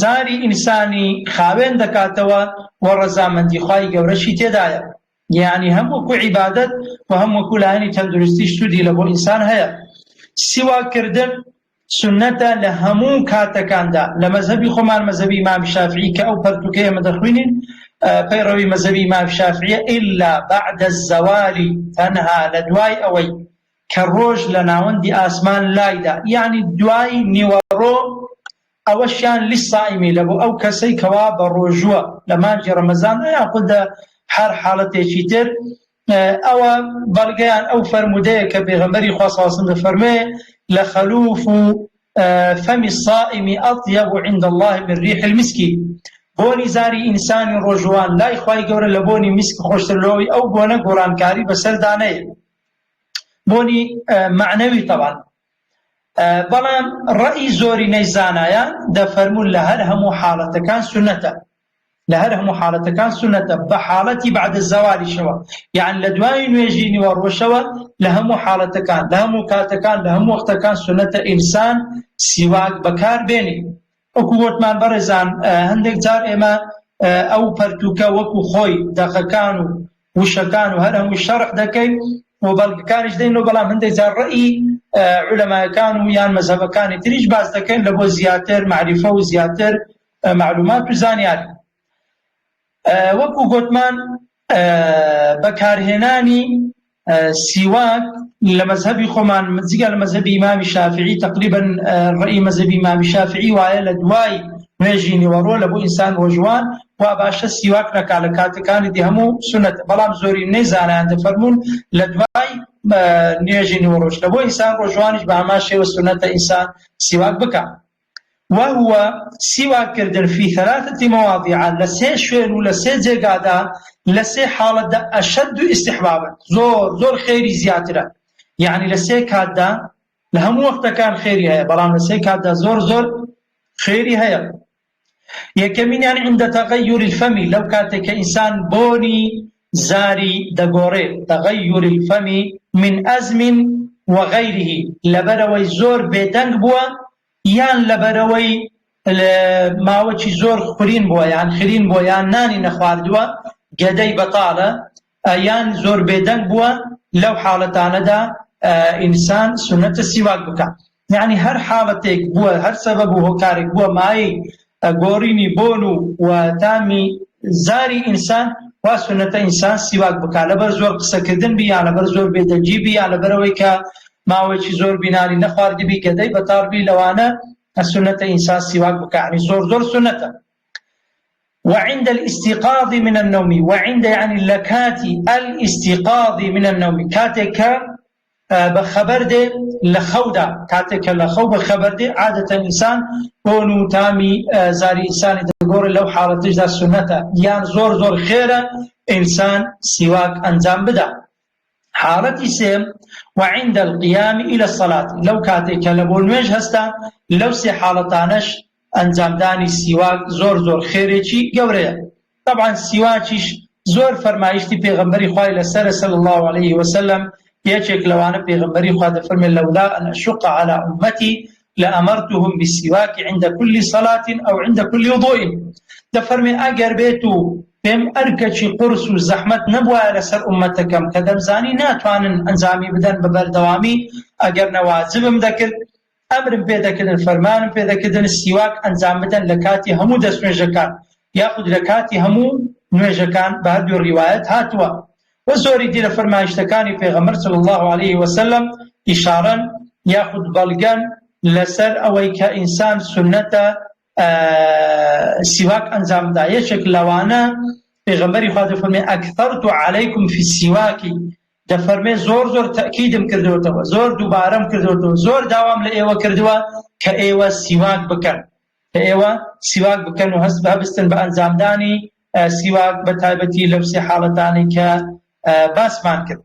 زاری ئینسانی خاوێن دەکاتەوە و ڕەزامەندی خوای گەورەشی تێدایە، یەعنی هەم وەکو عیبادەت و هەم وەکو لایەنی تەندروستیش سوودی لەبۆ ئینسان هەیە. سیواک کردن سوننەتە لە هەموو کاتەکاندا، لە مەزهەبی خۆمان مەزهەبی ئیمام شافعی کە ئەو پەرتووکەی ئێمە دەخوینین پەیڕەوی مەزهەبی ئیمام شافعیە الا بعد الزوال تەنها لە دوای ئەوەی کە ڕۆژ لە ناوەندی ئاسمان لایدا یەعنی دوای نیوەڕۆ ئەوەشیان لش صائمی لە بۆ ئەو کەسەی کەوا بە ڕۆژووە لە مانگی ڕەمەزان ئەیان قول دە هەر حاڵەتێکی تر ئەوە بەڵگەیان ئەو فەرموودەیە کە پێغەمبەری خوا ساسن دەفەرمێ لە خەلوف و فەمی الصائمی ئەطیب عند الله من ریح المسکی بۆنی زاری ئینسانی ڕۆژوان لای خی گەورە لە بۆنی میسک خۆشتر لەوەی ئەو بۆنە گۆڕانکاری بەسەردانەیە بۆنی معنەوی تەوان بەڵام ڕەئی زۆرینەی زانایان دەفەرموون لە هەر هەموو حاڵەتەکان سونەتە لە هەر هەموو حاڵەتەکان سونەتە بە حاڵەتی بعد زەوالیشەوە یان لە دوای نوێژی نیوە ڕۆژەوە لە هەموو حاڵەتەکان لە هەموو کاتەکان لە هەموو وەختەکان سونەتە ئینسان سیواک بەکار بێنی وەکو وتمان بەڕێزان هەندێک جار ئێمە ئەو پەرتوکە وەکو خۆی دەقەکان و وشەکان و هەر هەمووی شەرح دەکەین و بەڵگەکانیش دەین و بەڵام هەندێک جار ڕئی علەمایەکان و یان مەزەبەکانی تریش باز دەکەین لە بۆ زیاتر معریفە و زیاتر معلومات و زانیاری وەکو گۆتمان بەکارهێنانی سیواک لە مەزهەبی خۆمان جگە لە مەزهەبی ئیمامی شافعی تقریبن ڕێی مەزهەبی ئیمامی شافعی وایە لە دوای نوێژی نیوەڕۆ لە بۆ ئینسان وەژوان وا باشە سیواک نەکا لە کاتەکانی دی هەموو سنت بەڵام زۆری نەی زانیان دەفەرمونون لە دوای نوێژی نیوەڕۆژ لە بۆ ئینسان ڕۆژوانیش بە هەمان شێوە سنەتە ئینسان سیواک بکە وهو سیواک کردن فی ثلاثە مواضیع لە سێ شوێن و لە سێ جێگادا لە سێ حاڵەتدا اشد استحبابا زۆر زۆر خێری زیاترە یعنی لە سێ کاتدا لە هەموو وەختەکان خێری هەیە بەڵام لە سێ کاتدا زۆر زۆر خێری هەیە یەکەمینیان عند تغیر الفم لەو کاتێک کە ئینسان بۆنی زاری دەگۆڕێت، تغیر الفم من ئەزم وغیره، لەبەرئەوەی زۆر بێدەنگ بووە یان لەبەرئەوەی ماوەکی زۆر خورین بووە یان خرین بووە یان نانی نەخواردووە گەدەی بەتاڵە یان زۆر بێدەنگ بووە لەو حاڵەتانەدا ئینسان سونەتە سیواک بکات. یەعنی هەر حاڵەتێک بووە، هەر سەبەب و هۆکارێک بووە مایەی گۆڕینی بۆن و و تامی زاری ئینسان، وا سوننەتە ئینسان سیواک بکا، لەبەر زۆر قسەکردن بی یان لەبەر زۆر بێدەنگی بی یان لەبەر ئەوەی کە ماوەیەکی زۆر بی نانی نەخواردبی گەدەی بەتاڵ بی لەوانە سوننەتە ئینسان سیواک بکا، یەعنی زۆر زۆر سوننەتە. وعند الاستيقاظ من النوم وعند يعني لكاتي الاستيقاظ من النوم کاتێک کە بە خەبەر دێ لە خەودا، کاتێک کە لە خەو بە خەبەر دێ، عادەتەن ئینسان بۆن و تامی زاری ئینسانی دەگۆڕێ، لەو حاڵەتەشدا سوننەتە یان زۆر زۆر خێرە ئینسان سیواک ئەنجام بدا. حاڵەتی سێم، وعند القیام الی الصلاة، لەو کاتێک کە لە بۆ نوێژ هەستا، لەو سێ حاڵەتانەش ئەنجامدانی سیواک زۆر زۆر خێرێکی گەورەیە تەبعەن سیواکیش زۆر فەرمایشتی پێغەمبەری خوای لەسەر صلی الله علیه وسلم یەکێک لەوانە پێغەمبەری خوا دەفەرمێ لەولا ان اشق على امتی لامرتهم بالسواک عند كل صلاه او عند كل وضوء دەفەرمێ ئەگەر بێت و پێم ئەرکەکی قرس و زەحمت نەبوایە لەسەر ئومەتەکەم کە دەمزانی ناتوانن ئەنجامی بدەن بە بەردەوامی ئەگەر نەواجبم دەکرد ئەمرم پێ دەکردن، فەرمانم پێ دەکردن سیواک ئەنجام بدەن لە کاتی هەموو دەستنوێژەکان یاخود لە کاتی هەموو نوێژەکان، بە هەردوو ڕیوایەت هاتووە، وە زۆری دیرە فەرمایشتەکانی پێغەمبەر صلی اللە علیە وسلم ئیشارەن یاخود بەڵگەن لەسەر ئەوەی کە ئینسان سوننەتە سیواک ئەنجام بدا یەکێک لەوانە پێغەمبەری خوا دەفەرمێ ئەکثرت علیکم فی السواک دەفەرمێ زۆر زۆر تەکیدم کردوتەوە زۆر دووبارەم کردوتەوە زۆر داوام لە ئێوە کردووە کە ئێوە سیواک بکەن کە ئێوە سیواک بکەن و هەست بەبستن بە ئەنجامدانی سیواک بە تایبەتی لەو سێ حاڵەتانی کە باسمان کرد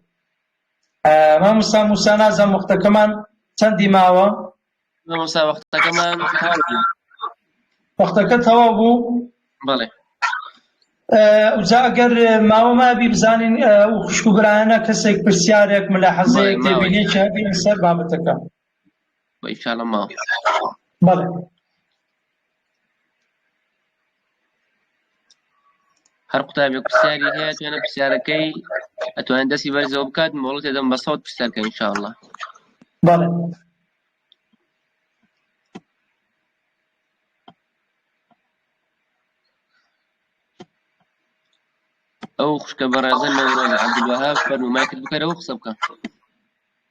ماموسا موسا نازە مختەکەمان چەندی ماوە مامۆستا وەختەکەمان تەواو بوو. وەختەکە تەواو بوو بەڵێ جا ئەگەر ماوە مابی بزانین و خوشک و برایانە کەسێک پرسیارێک ملاحەزەیەک بەڵێ، ماوەیە. تێبینێکی هەبی لەسەر بابەتەکە و ئیشاڵە ماوە بەڵێ هەر قوتابێک پرسیاری هەیە توانە پرسیارەکەی ئەتوانێت دەستی بەرزەوە بکات مۆڵەت دەدەم بە سەوت پرسیارکە انشاءله بەڵێ ئەو خوشکە بەڕێزە نەوەها فەرمومای کرد بکەرەوە قسە بکە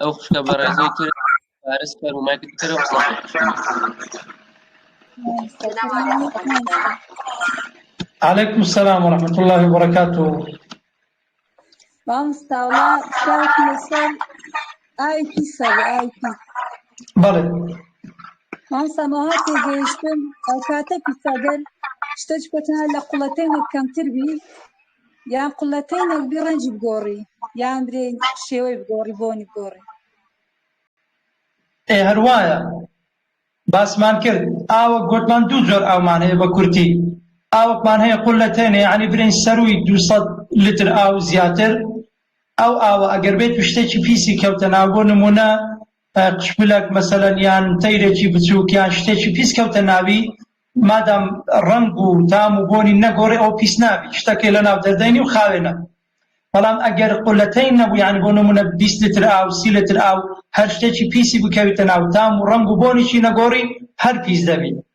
ئەو خوشکە بەڕێزەی تر پارس کەر و مایکت کەرەوە قسە عليكم السلام ورحمة الله وبركاته مامستا وڵا پیاوێکی لەسەر ئایپی سەر ئایپی بەڵێ مامستا ماها تێگەیشتن ئەو کاتە پیسەگەر شتەج کۆتە لە قوڵەتێنێک کەمتر بی یان قلەتەی نەگبی ڕەنجی بگۆڕی یان برێ شێوەی بگۆڕی بۆنی بگۆڕی ئێ هەروایە باسمان کرد ئاوەک گۆتمان دوو جۆر ئاومان هەیە بە کورتی ئاوەکمان هەیە قلەتەینە یعنی برین سەرووی 200 لتر ئاو زیاتر ئەو ئاوە ئەگەر بێت شتێکی پیسی کەوتە ناو بۆ نمونە قشپلەک مەسەلەن یان تەیرێکی بچووک یان شتێکی پیس کەوتە ناوی مادام ڕەنگ و تام و بۆنی نەگۆڕێ ئەو پیس نابی شتەکەی لە ناو دەردەینی و خاوێنە بەڵام ئەگەر قولەتەی نەبوو یان بۆ نمونە 20 لتر ئاو سی لتر ئاو هەر شتێکی پیسی بکەویتە ناو تام و ڕەنگ و بۆنیی نەگۆڕی هەر پیس دەبی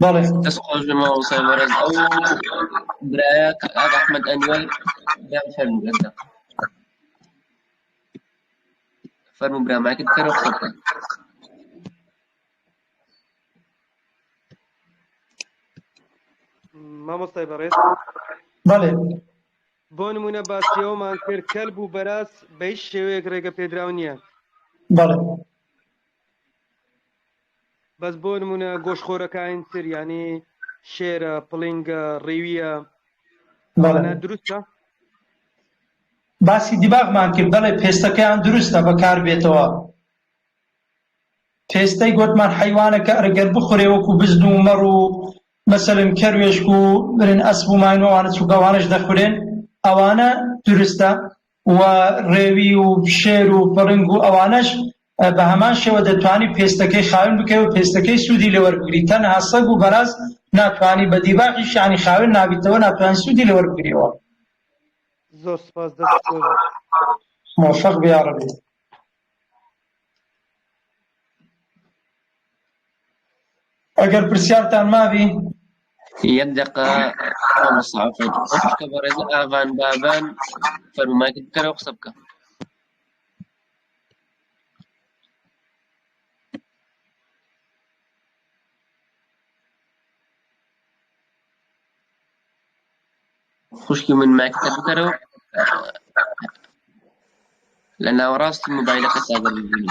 بەڵێ دەست خۆش بێ مامۆستای بەڕێز ئەو برایە کاک ئەحمەد ئەنوەر برام فەرموو ئێستا فەرموو برا مایکت بکەرە قسە بکە مامۆستای بەڕێز بەڵێ بۆ نمونە باسیەوەمان کرد کەل بوو بەراز بەیش شێوەیەک ڕێگە پێدراو نییە بەڵێ بەس بۆ نمونە گۆشت خۆرەکاین تر یانی شێرە پڵینگە ڕیویە ئەوانە دروستە باسی دیباغمان کرد بەڵێ پێستەکەیان دروستە بەکار بێتەوە پێستەی گوتمان حیوانەکە ئەرگەر بخورێ وەکو بزن و مەڕ و مەسەلم کەروێشک و برن ئەسب و ماینەوانە چووکەوانش دەخورێن ئەوانە دروستە و ڕێوی و شێر و پڕنگ و ئەوانەش بە هەمان شێوە دەتوانی پێستەکەی خاوێن بکەی و پێستەکەی سوودی لێ وەربگری تەنها سەگ و بەراز ناتوانی بە دیباغیش یانی خاوێن نابیتەوە ناتوانانی سوودی لێ وەربگریەوە زۆر سپاس دەست خۆش موفق بی یا ربی ئەگەر پرسیارتان مابی یەک دقا بەڕێز ئاڤان بابان فەرمایت بکەرەوە قسە بکە خوشکی من مایکەکە بکەرە و لە ناوەڕاستی مۆبایلەکە تا بەرببینی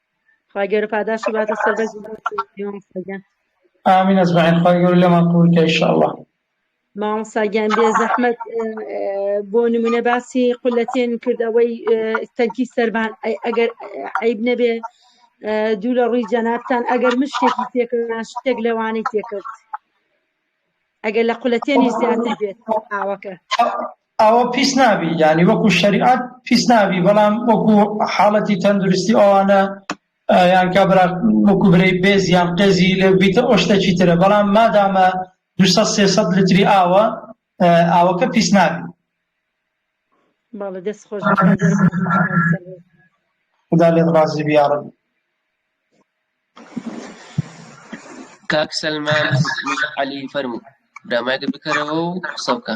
خوای گەورە پاداشی باتە سەر بەرز و بەرز جوانی مامۆستا گیان آمین أجمعين خوای گەورە لێمان قبول کە ئینشاءاللە مامۆستا گیان بێ زەحمەت اه، اه، بۆ نمونە باسی قولەتێن کرد ئەوەی اه، تەنکی سەربان ئەی ئەگەر اه، عیب نەبێ اه، دوو لە ڕووی جەنابتان ئەگەر مشتێکی تێکەوە شتێک لەوانەی تێکەوت ئەگەر لە قولەتێنی زیاتر بێت ئاوەکە ئەوە پیس نابی یانی وەکو شەریعەت پیس نابی بەڵام وەکو حاڵەتی تەندروستی ئەوانە یان کابرا وەکو برەی بێز یان قێزی لێ بیتە ئەو شتێکی ترە بەڵام مادامە 200 300 لتری ئاوە ئاوەکە پیس نابی باڵە دەست خۆش خدا لێت ڕازی بیاڕم کاک سەلمان عەلی فەرموو برا مایکت بکەرەوە و قسە بکە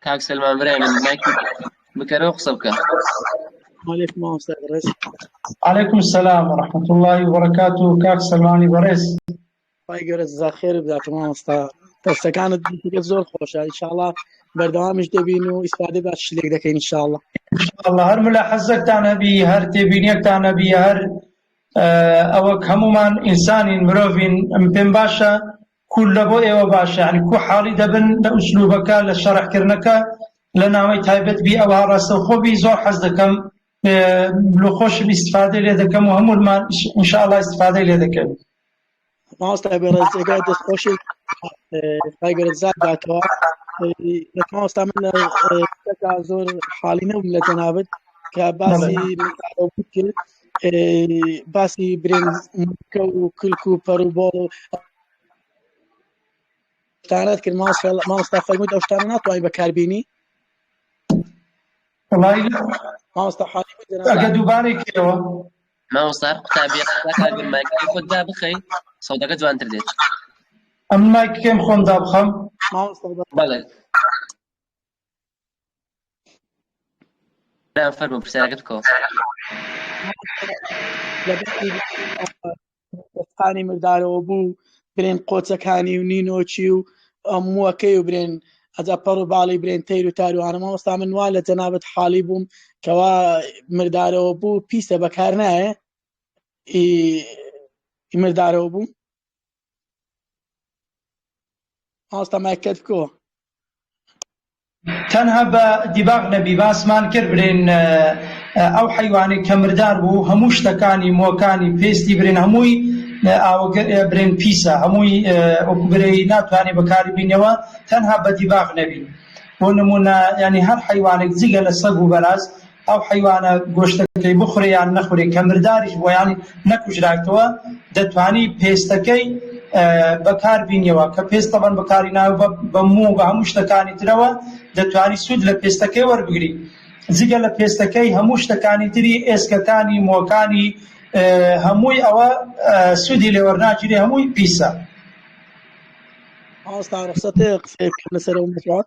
کاک سلمان برای من مایکی بکەرەوە قسە بکە وعلیکم مامۆستا بەڕێز علیکم سلام ورحمة الله وبركاته کاک سلمانی بەڕێز خی گەورە زاخێر بدات مامۆستا دەستەکانت دیگە زۆر خۆشە انشاءالله بەردەوامیش دەبین و ئیسپادە باش شلێک دەکەین انشاءالله الله هەر ملا حەزەکتان هەبی هەر تێبینیەکتان هەبی هەر ئەوەک هەموومان ئینسانین مرۆڤین ئەم پێم باشە کول لە بۆ ئێوە باشە عنی کو حاڵی دەبن لە ئوسلوبەکە لە شەڕحکردنەکە لە ناوەی تایبەت بی ئەوە ڕاستە خۆبی زۆر حەز دەکەم لۆ خۆشم ئیسفادە لێ دەکەم و هەمومان انشاءاللە ئیسفادەی لێ دەکەن مامۆستای بەڕێز جێگای دەست خۆشی خی گەورە جزات داتەوە مامۆستا من لە تەکا زۆر حاڵی نەبووم لە جەنابەت کە باسی کرد باسی برێن کە و کلک و پەر و بۆڵ و تانەت کرد مامۆستا فەرمووی ئەو شتانە ناتوانین بەکاربیینی مامۆستا حاڵی ئەگە دووبارەی کەەوە مامۆستا قوتابیە قسە کە گەر مایکەکەی خۆت دابخەی سەودەکە جوانتر دێت ئەم مایکەکەیم خۆم دابخەم مامۆستا بە بەڵێ برام فەرموو پرسیارەکەت بکەوە لە بەشی دەستخانی مردارەوە بوو برێن قۆچەکانی و نینۆکی و موەکەی و برێن ئەجا پەڕ و باڵی برێن تەیر و تاروانە مامۆستا من وا لە جەنابەت حاڵی بووم کەوا مردارەوە بوو پیسە بەکار نایە مردارەوە بوو ماوەستا مایکت بکۆ تەنها بە دیباغ نەبی باسمان کرد برێن ئەو حیوانی کە مردار بوو هەموو شتەکانی مۆکانی پێستی برێن هەمووی ئاوگە برێن پیسە هەمووی ئۆکوبرەی ناتوانێت بەکاری بینەوە تەنها بە دیباغ نەبی بۆ نمونە ینی هەر حیوانێک جگە لە سەگ و بەراز ئەو حەیوانە گۆشتەکەی بخورێ یان نەخورێ کە مرداریش بووە یان نەکوژراوتەوە دەتوانی پێستەکەی بەکار بینیەوە کە پێست تەبەن بەکاری ناو بە موو بە هەموو شتەکانی ترەوە دەتوانی سوود لە پێستەکەی وەربگری جگە لە پێستەکەی هەموو شتەکانی تری ئێسکەکانی مۆکانی هەمووی ئەوە سوودی لێوەرناگیری هەمووی پیسە ئاستا ڕخسەتێ قسەیە لەسەر ئەو مسوات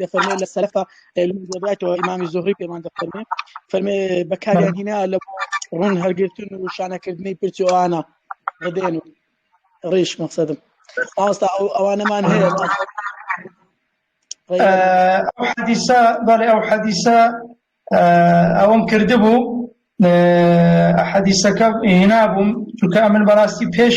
دەفەرمێ لە سەرفە دەباتەوە ئیمامی زۆری پێمان دەفەرمێ فەرمێ بەکاریان هینا لە ڕوون هەرگرتن و شانەکردنی پرچوانە ڕدێن و ڕیش مەقصدم ئاستا ئەو ئەوانەمان هەیە ئەو حەدیسە بەڵێ ئەو حەدیسە ئەوم کردبوو حەدیسەکە هێنابووم چونکە من بەڕاستی پێش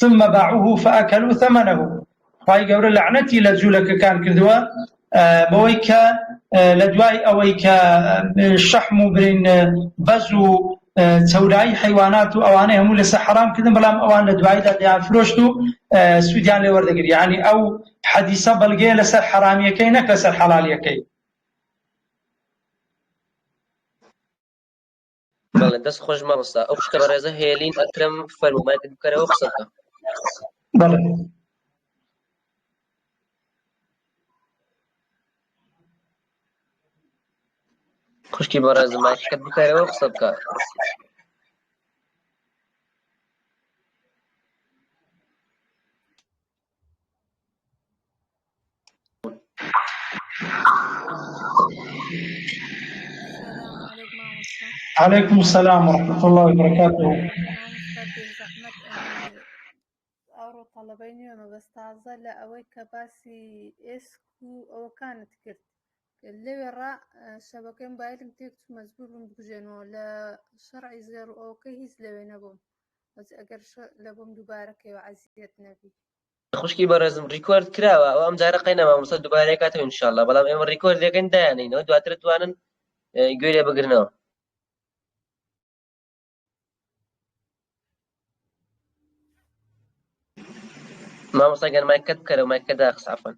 ثم باعوه فاکلوا ثمنه خوای گەورە لەعنەتی لە جوولەکەکان کردووە بەوەی کە لە دوای ئەوەی کە شەحم و برین بەز و چەورایی حیوانات و ئەوانەی هەموو لەسە حرام کردن بەڵام ئەوان لە دواییدا دەیان فرۆشت و سوودیان لێ وەردەگری ینی ئەو حەدیسە بەڵگەیە لەسەر حرامیەکەی نەک لەسەر حەڵالیەکەی بەڵێ دەست خۆش مامۆستا ئەو شتە بەڕێزە هێلین ئەکرم فەرمومایکت بکەرەوە قسە بکە بەڵێ خوشکی بەڕێزم مایکەکەت بکەرەوە قسە بکە علیکم السلام ورحمة الله وبركاته ئەوڕۆ تەڵەبەی نوێ مەبەست تازە لە ئەوەی کە باسی ئێسک و ئەوەکانت کرد لەوێڕا شەبەکەی موبایلم تێک مەجبور بووم بکوژێنەوە لە شەڕعی زێڕ ئەوکە هیچ لەوێ نەبووم خوشکی بەڕێزم ڕیکۆرد کراوە ئەو ئەم جارە قەی نەمامۆستا دوبارەیە کاتەوە انشاءاللە بەڵام ئێمە ڕیکۆرد لەکەن دایانینەوە دواتر توانن گوێ لێ بگرنەوە مامۆستا گەرمایکەت بکەرە مایکەدا قسافن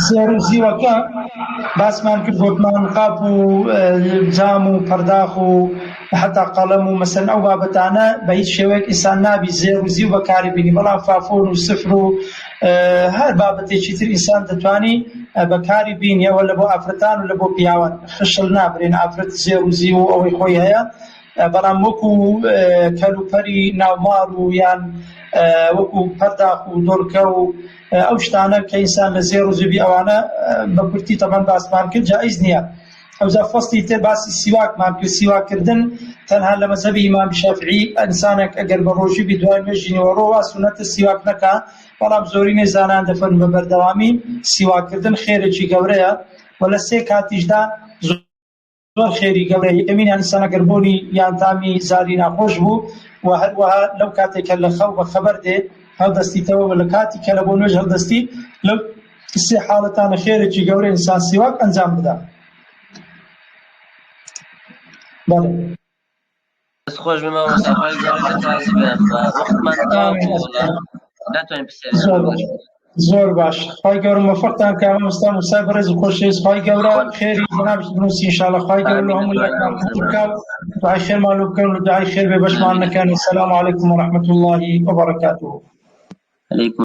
زێڕ و زیوەکە باسمان کرد گوتمان قاپ و جام و پەرداخ و حتا قەڵەم و مەسن ئەو بابەتانە بە هیچ شێوەیەک ئیسان نابی زێر و زیو بەکاری بینی بەڵام فافۆن و سفر و هەر بابەتێکی تر ئیسان دەتوانی بەکاری بینیەوە لە بۆ ئافرەتان و لە بۆ پیاوان خشل نابرێن ئافرەت زێر و زیو و ئەوەی خۆی هەیە بەڵام وەکو کەلوپەلی ناوماڵ و یان وەکو پەرداخ و دۆرکە و ئەو شتانە کە ئینسان لە زێر و زوبی ئەوانە بە کورتی تەبەن باسمان کرد جایز نییە ئەوجا فەستی تر باسی سیواکمان کرد سیواکردن تەنها لە مەزەبی ئیمام شەفعی ئەنسانێک ئەگەر بە ڕۆژی بدوای مێژینەوە ڕۆوا سونەتە سیواک نەکا بەڵام زۆرینەی زانان دەفەن بە بەردەوامی سیواکردن خێرێکی گەورەیە و لە سێ کاتیشدا زۆر خێری گەڵێ ئەوینان سەمەگەربوونی یان تامی زاری ناخۆش بوو و هەروەها لەو کاتێکە لە خەو بە خەبەر دێ هەڵدەستیتەوە لە کاتی کە لە بۆ نوێژ هەڵدەستی لەو سێ حاڵەتانە خێرێکی گەورە ئینسان سیواک ئەنجام بدە بەڵێ دەست خۆش بێ مامۆستا خوای گەورە لێت ڕازی بێ ئەمما وەختمان تەواو بوو وەڵا ناتوانین پرسیارێکی زۆر باش بکەین زۆر باش خوای گەورە موفقتان کە مامۆستا موسای بەڕێز و خۆشەویست خوای گەورە خێری جەنابت بنووسی ان شاء الله خوای گەورە لە هەموو لایەکمان قبوڵ بکات دوعای خێرمان لۆ بکەن و دوعای خێر بێ بەشمان نەکەن السلام علیکم ورحمة الله وبرکاته علیکم